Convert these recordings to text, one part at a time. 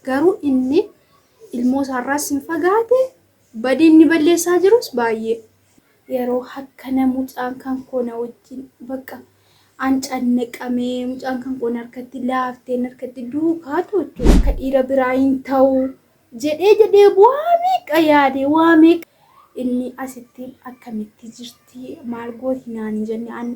Garuu inni ilmoo isaarraas hin fagaate, badii inni balleessaa jirus baay'ee. Yeroo akkana mucaan kan koo na wajjin bakka an cannaqame, mucaan kan koo na harkatti laafte, na harkatti duukaa toochu, akka dhiira biraa hin ta'u jedhee jedhee waa meeqa yaade, waa meeqa. Inni asitti akkamitti jirti? Ati maal gooti naan hin jenne an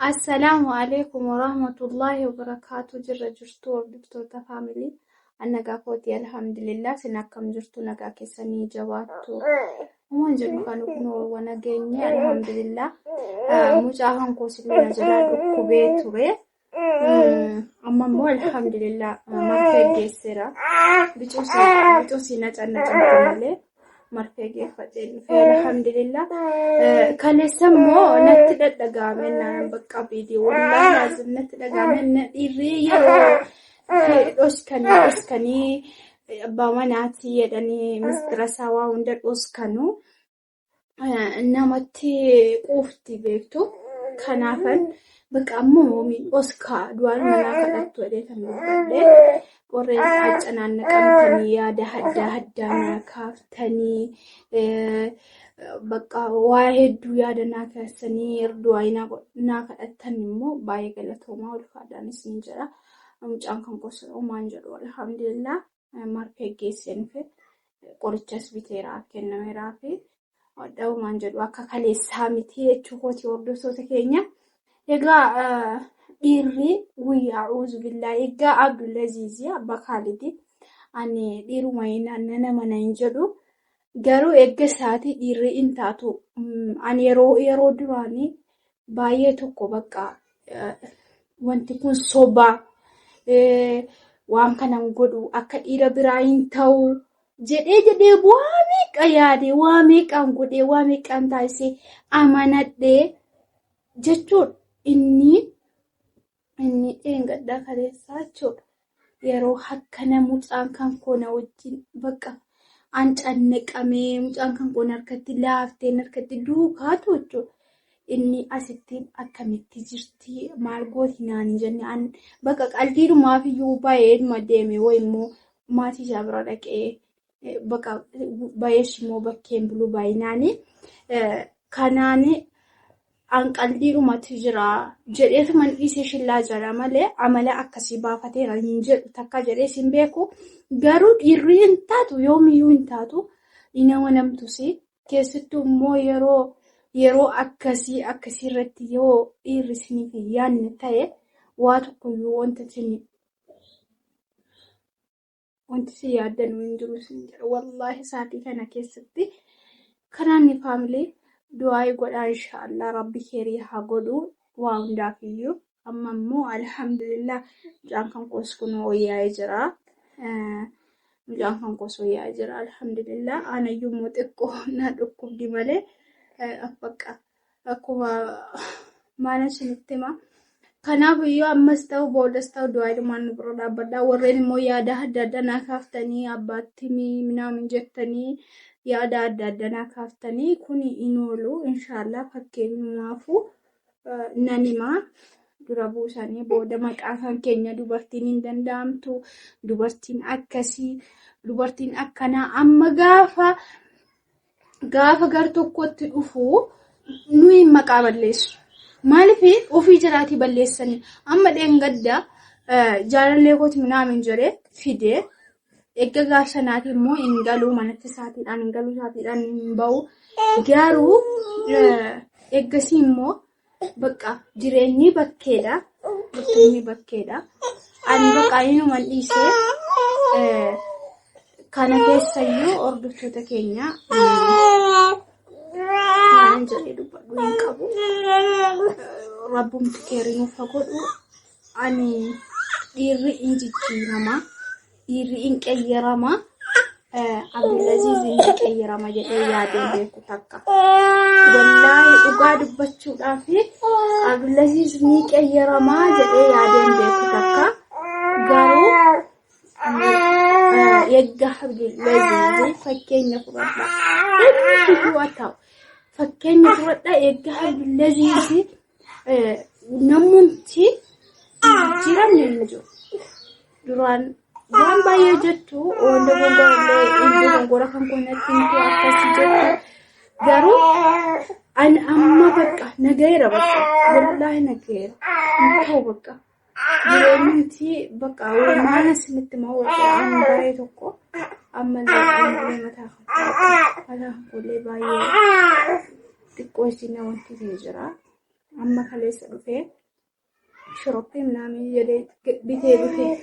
Assalaamu alaikum warahmatullaahi wabarakaatu jirra jirtu hordoftoota faamilii annagaa kootii alhamdulillah sin akkam jirtu nagaa keessanii jabaattu umaan jedhu kan kunoowwa nageenye alhamdulillah mucaa hankoo sillee na jalaa dhukkubee ture Amma immoo alhamdulillah marfee geesseera. Bicuu si nacanna cantu malee marfee geeffadhee dhufee alhamdulillah. Kaleessa immoo natti dhadhagaame naan bakka viidiyoo wallaahi laazim natti dhagaame na dhiirri yeroo dhoskanii dhoskanii abbaa manaatii jedhanii mistirasaa waa hunda dhoskanu. namatti quufti beektu kanaafan bakka amma moomiin oskaa du'aan manaa kadhattu jedhee kan dubbadhe warreen qaaca naannaqamtanii yaada haddaa haddaa naa kaaftanii bakka waa hedduu yaada naa keessanii erdu'aa naa kadhattan immoo baay'ee galatoomaa ulfaadhaan isin jedha mucaan kan gosa uumaan jedhu alhamdulillah. marfee geesseenifi qorichas biteeraaf kennameeraafi dha'umaan jedhu akka kaleessaa miti jechuu kooti hordoftoota keenya. Egaa dhiirri guyyaa uuzu billaa egaa Abdulaziizii abba Kaalidi ani dhiiruma nan amana hin jedhu garuu eegga isaatii dhiirri hin taatu ani yeroo duraanii baay'ee tokko bakka wanti kun sobaa waan kanan godhu akka dhiira biraa hin ta'u jedhee jedhee waa meeqa yaadee waa meeqaan godhee waa meeqaan taasisee amanadhee jechuun inni Inni dheengaddaa kaleessaa jechuudha. Yeroo hakkana mucaan kan koo na wajjin bakka an cannaqamee mucaan kan koo harkatti laaftee harkatti duukaatu jechuudha. Inni asitti akkamitti jirti maal gooti naani jenne an bakka qaldiidhumaaf iyyuu baay'eedhuma deeme wayimmoo maatii isaa bira dhaqee Baqa bayees immoo bakkeen bulu baay'inaani. Kanaan anqaldiidhumatu jira jedheetuma hin dhiisee shillaa jira malee amala akkasii baafateera hin jedhu takka jedhees hin beeku. Garuu dhiirri hin taatu yoomiyyuu hin taatu hin amanamtusi. Keessattuu immoo yeroo yeroo akkasii akkasii irratti yoo dhiirri isiniif hin yaadne ta'e waa tokkoyyuu wanta isin Wanti si yaaddanuu hin jiru sin jedha. Wallaahi saatii kana keessatti kanaan ni faamilee du'aa'ii godhaa inshaallah rabbi keerii haa godhu waa hundaaf iyyuu. Amma immoo alhamdulillah mucaan kan koos kun wayyaa'ee jira. Mucaan kan koos wayyaa'ee jira alhamdulillah. Aanayyuu immoo xiqqoo na dhukkubdi malee affaqqaa. Akkuma maalan isinitti hima. Kanaaf yoo ammas ta'u boodas ta'u du'aa ilmaan nu bira dhaabbadha. Warreen immoo yaada adda addaa naa kaaftanii abbaatti minaamin jettanii yaada adda addaa naa kaaftanii kun hin oolu. Inshaallah fakkeenyumaafu nan hima. Dura buusanii booda maqaa kan keenya dubartiin hin danda'amtu. Dubartiin akkasii dubartiin akkanaa amma gaafa gaafa gar tokkotti dhufu nuyi maqaa balleessu. Maaliif ofii jiraatii balleessanii amma dheengadda jaalallee kooti minaamin jedhee fide erga gaaf sanaatii immoo hin galuu manatti isaatiidhaan hin galuu isaatiidhaan hin bahu garuu ergasii immoo Bakka jireenyi bakkeedha. Jireenyi bakkeedha. Ani bakka inuman dhiisee eh, kana keessayyuu hordoftoota keenya waan jedhee dubbadhu hin qabu. Rabbumti keeriin ufa godhu. Ani dhiirri hin jijjiirama. Dhiirri hin qeyyarama. Abdulaziz hin qeyyarama jedhee yaadee beeku takka. Wallaahi dhugaa dubbachuudhaaf Abdulaziz ni qeyyarama jedhee yaadee beeku takka. Garuu eegga Abdulaziz fakkeenya fudhadha. Inni yoo ta'u fakkeenya fudhadha eegga Abdulaziz Namoonni jijjiiramni hin jiru. Duraan waan baay'ee jettu wanta gongora kan kunnatti miti akkasi jettu garuu ani amma bakka nagayeera bakka wallaahi nagayeera hin ta'u bakka. Nuti bakka uumaan isinitti moo waan baay'ee tokko ammallee ammallee mataa fakkaatu mataa fakkoollee baay'ee xiqqoo isin wanti isin jira amma kaleessa dhufee shoroppii minaamin jedhee bitee dhufee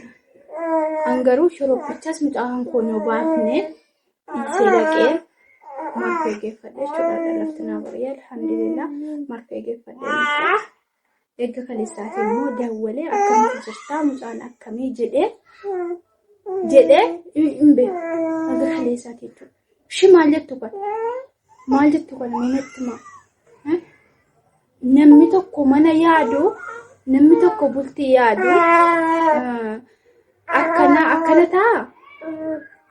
an garuu shoroppichas mucaan kun yoo baafne dhiisee dhaqee marfee geeffadhe jechuudha dhalaftinaa barii alhamdulillah marfee geeffadhe Eegga kaleessaatii immoo dawwalee akkamitti jirtaa mucaan akkamii jedhee jedhee hin beeku. Eegga kaleessaatii jechuudha. Ishii maal jettu kana? Maal jettu kana namatti maa? Namni tokko mana yaadu namni tokko bultii yaadu akkana akkana ta'a.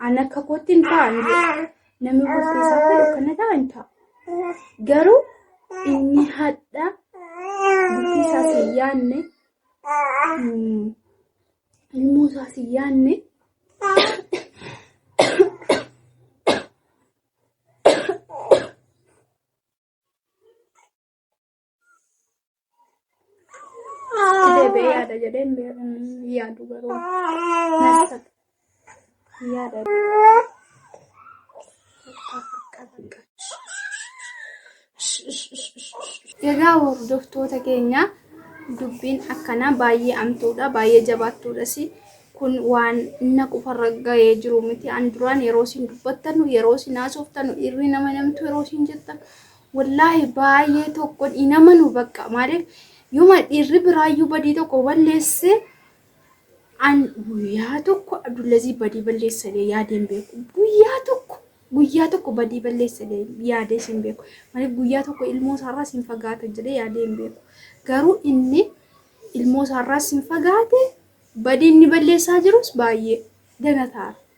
An akka kootti hin ta'an Namni gosti isaa kun akkana ta'a hin ta'a. Garuu inni hadha bultii isaas hin yaadne mm, ilmoo isaas hin yaadne Sidee bee yaada jedhee hin bee- hin yaadu garuu. Nasta. Yaada. Egaa hordoftoota keenya dubbiin akkanaa baay'ee amtuudha baay'ee jabaattuudhas kun waan na qofarra ga'ee jiru miti an duraan yeroo isin dubbattanu yeroo isin haasoftanu dhiirri nama namtu yeroo isin jettan Wallaahi baay'ee tokkon hin amanu bakka maaliif yoma dhiirri biraayyuu badii tokko balleesse an guyyaa tokko Abdullazii badii balleessalee yaadee hin beeku guyyaa tokko guyyaa tokko badii balleessalee yaadee hin beeku maaliif guyyaa tokko ilmoo isaarraas hin fagaata jedhee yaadee hin beeku garuu inni ilmoo isaarraas hin fagaate badii inni balleessaa jirus baay'ee dagataara.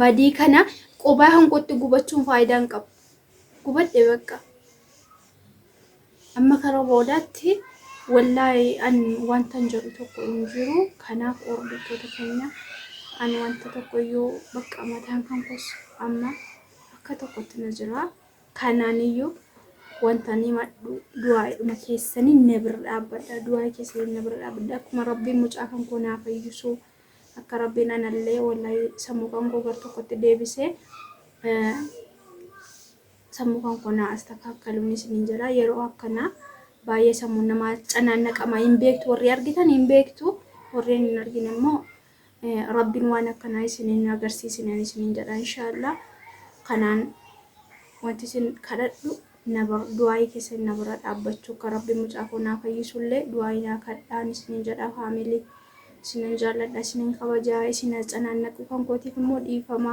Badii kana qubaa kan kootti gubachuun faayidaa hin qabu. Gubadhe bakka. Amma kara boodaatti wallaahi an wanta hin jedhu tokko hin jiru. Kanaaf hordoftoota keenya an wanta tokko iyyuu bakka mataan kan koos amma akka tokkotti na jira. Kanaan iyyuu wanta ni madhu du'aa'idhuma keessanii na bira dhaabbadha. Du'aa'ii keessanii na bira dhaabbadha. Akkuma rabbiin mucaa kan koo naa fayyisuu. Akka rabbiin anallee wallaahi sammuu kan koo gar tokkotti deebisee sammuu kan koo naa astakaakkaluun isiniin jedha yeroo akkanaa baay'ee sammuun namaa canaannaqama hin beektu warri argitan hin beektu warreen hin argine immoo rabbiin waan akkanaa isiniin agarsiisinen isiniin jedha inshaallah kanaan wanti isin kadhadhu na bar du'aa'ii keessan na bira dhaabbachuu akka rabbi mucaa koo naa fayyisu illee du'aa'ii naa kadhaan isinin jedha family isinan jaalladha isinin kabaja isin atsanaannaquu kan kootiif immoo dhiifama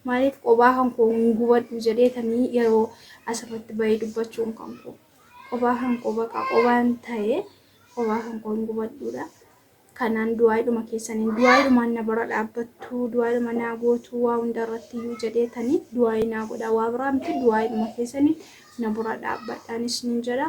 maaliif qobaa kan koo hin gubadhu jedheetanii yeroo asirratti bahee dubbachuun kan koo qobaa kan koo baqa qobaan ta'ee qobaa kan koo hin gubadhuudha kanaan du'aayiidhuma keessaniin du'aayiidhumaan na bira dhaabbattu du'aayiidhuma naa gootu waa hunda irratti iyyuu jedheetanii du'aayii naa godha waa biraa miti du'aayiidhuma keessaniin na bira dhaabbadhaanis nin jedha